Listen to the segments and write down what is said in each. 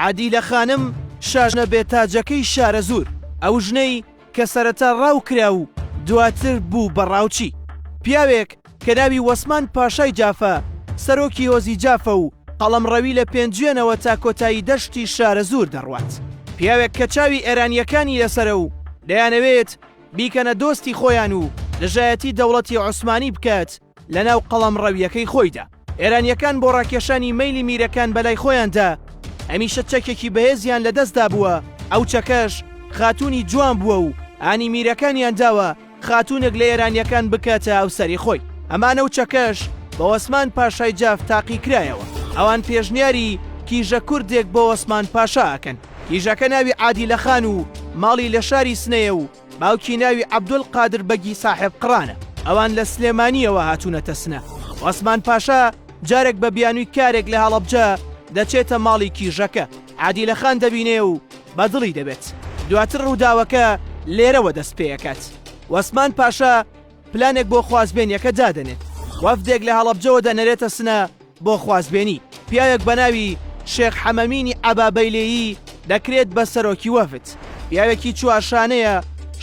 عادیلە خانم شاژنە بێ تاجەکەی شارەزوور، ئەو ژنەی کە سەرەتا ڕاو کرا و دواتر بوو بە ڕاوچی. پیاوێک کە ناوی وەسمان پاشای جافە، سەرۆکی هۆزی جافە و قەڵەمڕەوی لە پێنجوێنەوە تا کۆتایی دەشتی شارەزوور دەڕوات. پیاوێک کە چاوی ئێرانییەکانی لەسەرە و دەیانەوێت بیکەنە دۆستی خۆیان و دژایەتی دەوڵەتی عوسمانی بکات. لەناو قەڵەمڕەوییەکەی خۆیدا. ئێرانییەکان بۆ ڕاکێشانی مەیلی میرەکان بەلای خۆیاندا هەمیشە چەکێکی بەهێزیان لەدەستدا بووە، ئەو چەکەش خاتوونی جوان بووە و هانی میرەکانیان داوە خاتوونێک لە ئێرانییەکان بکاتە هاوسەری خۆی، ئەمانە و چەکەش بە وەسمان پاشای جاف تاقی کرایەوە. ئەوان پێشنیاری کیژە کوردێک بۆ وەسمان پاشا ئەکەن. کیژەکە ناوی عادیلە خان و ماڵی لە شاری سنەیە و، باوکی ناوی عەبدول قادر بەگی ساحێب قڕانە، ئەوان لە سلێمانییەوە هاتوونەتە سنە. عوسمان پاشا جارێک بە بیانووی کارێک لە هەڵەبجە دەچێتە ماڵی کیژەکە، عادیلە خان دەبینێ و بە دڵی دەبێت. دواتر ڕووداوەکە لێرەوە دەست پێ ئەکات. عوسمان پاشا پلانێک بۆ خوازبێنییەکە دادەنێت. وەفدێک لە هەڵەبجەوە دەنێرێتە سنە، بۆ خوازبێنی پیاوێک بە ناوی، شێخ حەمەمینی عەبابەیلێیی، دەکرێت بە سەرۆکی وەفد. پیاوێکی چوارشانەیە،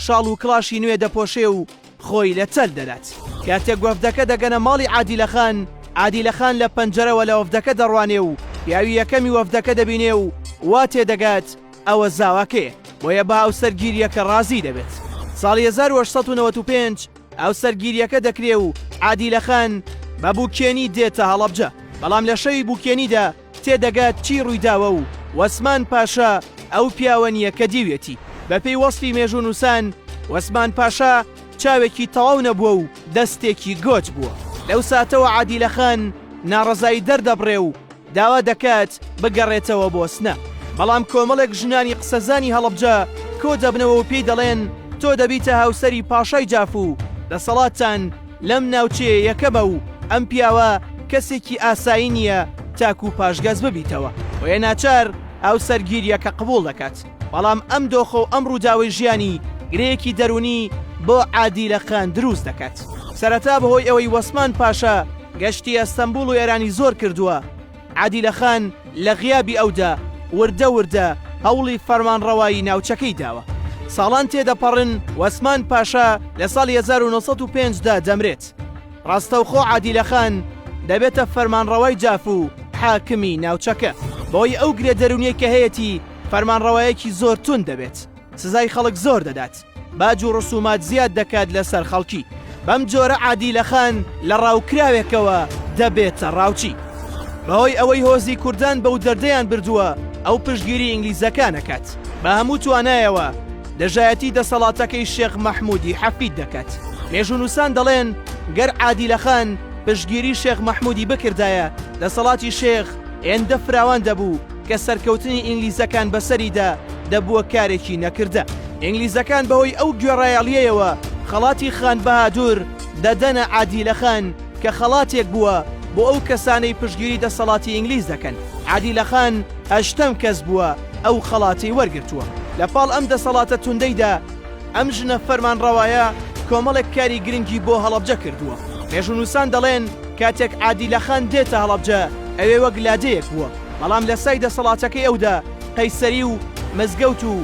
شاڵ و کڵاشی نوێ دەپۆشێ و خۆی لە چەل دەدات. کاتێک وەفدەکە دەگەنە ماڵی عادیلەخان، عادیلەخان لە پەنجەرەوە لە وەفدەکە دەڕوانێ و پیاوی یەکەمی وەفدەکە دەبینێ و وا تێ دەگات ئەوە زاواکەیە، بۆیە بە هاوسەرگیرییەکە ڕازی دەبێت. ساڵی هەزار و هەشت سەد و نەوەد و پێنج. ئەو سەرگیریەکە دەکرێ و عادیلە خان بە بوکێنی دێتە هەڵەبجە، بەڵام لە شەوی بوکێنیدا تێدەگات چی ڕوویداوە و وەسمان پاشا ئەو پیاوە نییە کە دیوێتی. بەپێی وەسفی مێژوونووسان وەسمان پاشا چاوێکی تەواو نەبووە و دەستێکی گۆچ بووە. لەو ساتەوە عادیلە خان ناڕەزایی دەردەبڕێ و، داوا دەکات بگەڕێتەوە بۆسنە، بەڵام کۆمەڵێک ژنانی قسەزانی هەڵەبجە کۆدەبنەوە و پێی دەڵێن تۆ دەبیتە هاوسەری پاشای جاف و دەسەڵاتتان لەم ناوچەیە یەکەمە و ئەم پیاوە کەسێکی ئاسایی نییە تاکوو پاشگەز ببیتەوە، بۆیە ناچار هاوسەرگیرییەکە قبووڵ دەکات. بەڵام ئەم دۆخە و ئەم ڕووداوەی ژیانی گرێیەکی دەروونی بۆ عادیلە خان دروست دەکات. سەرەتا بەهۆی ئەوەی وەسمان پاشا گەشتی ئەستەمبوڵ و ئێرانی زۆر کردووە، عادیلە خان لە غیابی ئەودا وردە وردە هەوڵی فەرمانڕەوایی ناوچەکەی داوە. ساڵان تێدەپەڕن، وەسمان پاشا لە ساڵی 1905 دا دەمرێت. ڕاستەوخۆ عادیلە خان دەبێتە فەرمانڕەوای جاف و حاکمی ناوچەکە. بەهۆی ئەو گرێ دەروونیەی کە هەیەتی، فەرمانڕەوایەکی زۆر توند دەبێت، سزای خەڵک زۆر دەدات، باج و ڕسومات زیاد دەکات لەسەر خەڵکی، بەم جۆرە عادیلەخان لە ڕاوکراوێکەوە دەبێتە ڕاوچی. بەهۆی ئەوەی هۆزی کوردان بەو دەردەیان بردووە ئەو پشتگیری ئینگلیزەکان ئەکات، بە هەموو توانایەوە دژایەتی دەسەڵاتەکەی شێخ مەحموودی حەفید دەکات. مێژوونووسان دەڵێن گەر عادیلەخان پشتگیری شێخ مەحموودی بکردایە دەسەڵاتی شێخ هێندە فراوان دەبوو، کە سەرکەوتنی ئینگلیزەکان بەسەریدا دەبووە کارێکی نەکردە. ئینگلیزەکان بەهۆی ئەو گوێڕایەڵییەوە خەڵاتی خان بەهادور دەدەنە عادیلە خان کە خەڵاتێک بووە بۆ ئەو کەسانەی پشتگیری دەسەڵاتی ئینگلیز دەکەن. عادیلە خان هەشتەم کەس بووە ئەو خەڵاتەی وەرگرتووە. لە پاڵ ئەم دەسەڵاتە توندەیدا، ئەم ژنە فەرمانڕەوایە کۆمەڵێک کاری گرنگی بۆ هەڵەبجە کردووە. مێژوونووسان دەڵێن کاتێک عادیلە خان دێتە هەڵەبجە ئەوێ وەک لادێیەک بووە. بەڵام لە سای دەسەڵاتەکەی ئەودا قەیسەری و مزگەوت و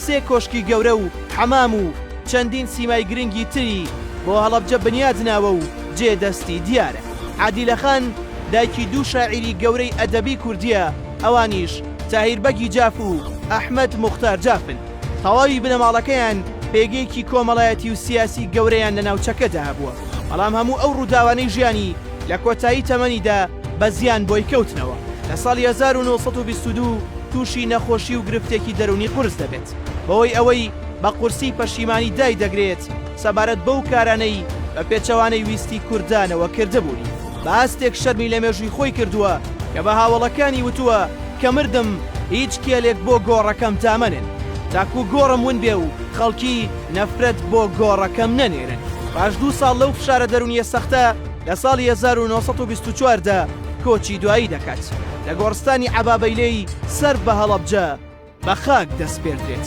سێ کۆشکی گەورە و حەمام و چەندین سیمای گرنگی تری بۆ هەڵەبجە بنیاد ناوە و جێ دەستی دیارە. عادیلە خان دایکی دوو شاعیری گەورەی ئەدەبی کوردییە، ئەوانیش تاهیر بەگی جاف و ئەحمەد موختار جافن. تەواوی بنەماڵەکەیان پێگەیەکی کۆمەڵایەتی و سیاسی گەورەیان لە ناوچەکەدا هەبووە، بەڵام هەموو ئەو ڕووداوانەی ژیانی، لە کۆتایی تەمەنیدا بە زیان بۆی کەوتنەوە. لە ساڵی هەزار و نۆ سەد و بیست و دوو تووشی نەخۆشی و گرفتێکی دەروونی قورس دەبێت، بەهۆی ئەوەی بە قورسی پەشیمانی دایدەگرێت سەبارەت بەو کارانەی بە پێچەوانەی ویستی کوردانەوە کردبوونی. بە ئاستێک شەرمی لە مێژووی خۆی کردووە کە بە هاوەڵەکانی وتووە کە مردم هیچ کێلێک بۆ گۆڕەکەم دامەنێن تاکوو گۆڕم ون بێ و خەڵکی نەفرەت بۆ گۆڕەکەم نەنێرن. پاش دوو ساڵ لەو فشارە دەروونییە سەختە، لە ساڵی هەزار و نۆ سەد و بیست و چوار دا کۆچی دوایی دەکات. لە گۆڕستانی عەبابەیلێی سەر بە هەڵەبجە بە خاک دەسپێردرێت.